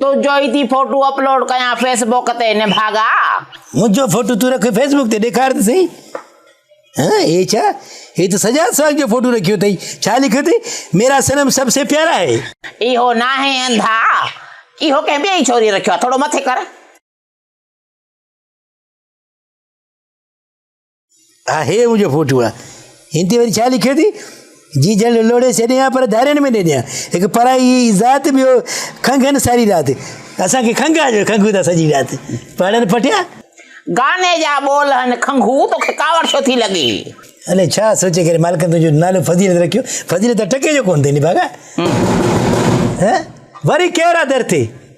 تنهنجو ئي ٿي فوٽو اپلوڊ ڪيان فيس بوڪ تي نڀاڳا منهنجو فوٽو تون رک فيس بوڪ تي ڏيکار ته سهي ها هي ڇا هي ته سجاد سواگ جو فوٽو رکيو اٿئي ڇا لکيو اٿئي ميرا صنم سب سي پيارا آهي اهو ناهي انڌا اهو ڪنهن ٻئي ڇوري رکيو آهي ٿورو مٿي ڪر ها هي منهنجو فوٽو آ هن تي وري ڇا لکيو اٿئي جي جن لوڙي ڇڏي ها پر ڌارين ۾ ڏيني ها هڪ پرائي ذات ٻيو کنگهن ساري رات اسان کي کنگهه آ جو کنگهون ٿا سڄي رات پڙن پٽيا گاني جا ٻول هن کنگهو توکي ڪاوڙ ڇو ٿي لڳي الي ڇا سوچي ڪري مالڪ تنهنجو نالو فضيلت رکيو فضيلت ٽڪي جو ڪون ٿي ني باغا وري ڪير آ در تي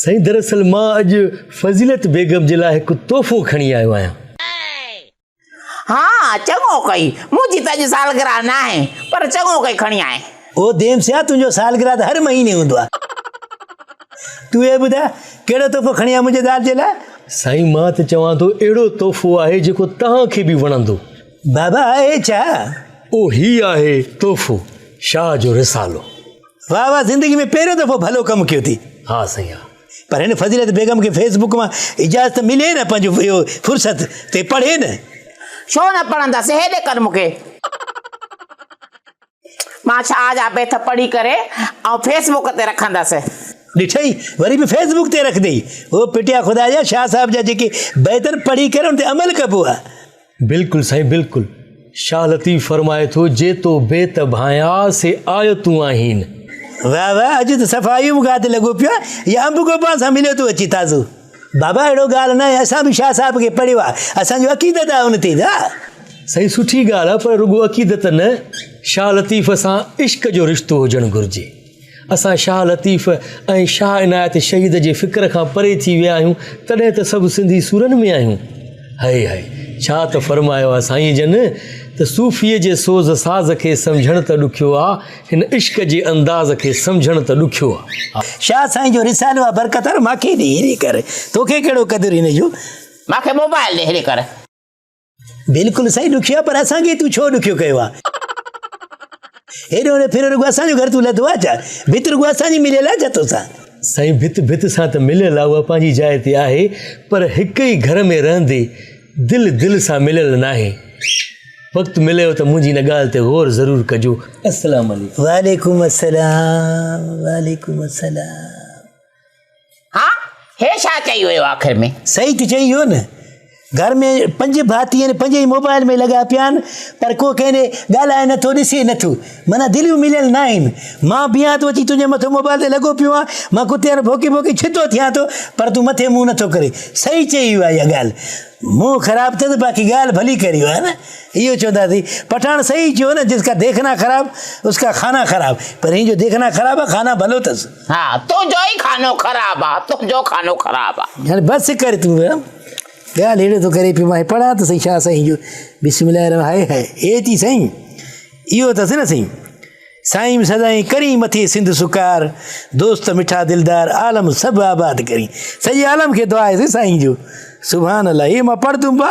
سائين دراصل مان اڄ فضيلت بيگم جي لاء هڪ تحفو کڻي آيو آهيان. ها چڱو ڪئي منهنجي ته اڄ سالگرهه ناهي پر چڱو ڪئي کڻي آئين. او ديم سيان تنهنجو سالگرهه ته هر مهيني هوندو آهي. تون هي ٻڌاء ڪهڙو تحفو کڻي آئين منهنجي زال جي لاء؟ سائين مان ته چوان ٿو اهڙو تحفو آهي جيڪو توهان کي به وڻندو. بابا اهي ڇا؟ او هي آهي تحفو شاهه جو رسالو. واهه واهه زندگي ۾ پهريون دفعو ڀلو ڪم ڪيو ٿي ها سائين ها پر هن فضيلت بيگم کي فيس بڪ مان اجازت ملي نه پنهنجو اهو فرصت تي پڙهي نه ڇو نه پڙهندس هيڏي ڪر مون کي مان شاهه جا بيت پڙهي ڪري ۽ فيس بڪ تي رکندس ڏٺئي وري به فيس بڪ تي رکندي هو پٽيا خدا جا شاهه صاحب جا جيڪي بيتن پڙهي ڪري ان تي عمل ڪبو آهي بلڪل سائين بلڪل شاھ لطيف فرمائي ٿو جيتو بيت ڀانيا سي آيتون آهين واھ واھ اڄ ته صفائي مون کي لڳو پيو يا انب گو پان سان مليو ٿو اچي تازو بابا اهڙو ڳالهه نه آهي اسان به شاھ صاحب کي پڙهيو آهي اسان جو عقيدت آهي ان تي سائين سٺي ڳالهه آهي پر رڳو عقيدت نه شاھ لطيف سان عشق جو رشتو هجڻ گهرجي اسان شاهه لطيف ۽ شاهه عنايت شهيد جي فڪر کان پري ٿي ويا آهيون، تڏهن ته سڀ سنڌي سورن ۾ آهيون. هائي هائي، ڇا ته فرمايو آهي سائينء جن ته صوفيء جي سوز ساز کي سمجهڻ ته ڏکيو آ، هن عشق جي انداز کي سمجهڻ ته ڏکيو آ. شاهه سائين جو رسالو آ برڪتار ماکي ڏي هيري ڪر، توکي ڪهڙو قدر هن جو. ماکي موبائل ڏي هيري ڪر. بلڪل سائين ڏکيو آهي پر اسان کي تون ڇو ڏکيو ڪيو آهي هيڏو هوڏو ڦريو رڳو اسان جو گهر تون لڌو آهي ڇا ڀت رڳو اسان جي مليل آهي ڇا توسان سائين ڀت ڀت سان ته مليل آهي اها پنهنجي جاء تي آهي پر هڪ ئي گهر ۾ رهندي دل دل سان مليل ناهي وقت مليو ته منهنجي هن ڳالهه تي غور ضرور ڪجو السلام عليڪم وعليڪم السلام وعليڪم السلام ها هي ڇا چئي ويو آخر ۾. صحيح ته چئي ويو نه. گهر ۾ پنج ڀاتي آهن پنج ئي موبائل ۾ لڳا پيا آهن پر ڪو ڪنهن ڏي ڳالهائي نٿو ڏسي نٿو معنيٰ دليون مليل ناهن مان بيهان ٿو اچي تنهنجي مٿو موبائل تي لڳو پيو آهيان مان ڪتي وانگر ڀونڪي ڀونڪي ڇتو ٿيان ٿو پر تون مٿي منهن نٿو ڪرين صحيح چئي ويو آهي اها ڳالهه منهن خراب اٿس باقي ڳالهه ڀلي ڪري ويو آهي نه اهو چونداسي پٺاڻ صحيح چيو نه جس ڪا ديکنا خراب اس ڪا کانا خراب پر هن جو ديکنا خراب آهي کانا ڀلو اٿس ها تنهنجو ئي خانو خراب آ تنهنجو خانو خراب آ. يعني بس ڪر تون ها ڳالهه هيڏو ٿو ڪري پيو مان پڙهان ته سائين شاهه سائين جو بسم الله الرحمن هائي هائي اي چي سائين اهو اٿس نه سائين سائين سدائين ڪرين مٿي سنڌ سڪار دوست مٺا دلدار عالم سڀ آباد ڪرين سڄي عالم کي دعا آهي سائين جو سبحان الله هي مان پڙهه تون با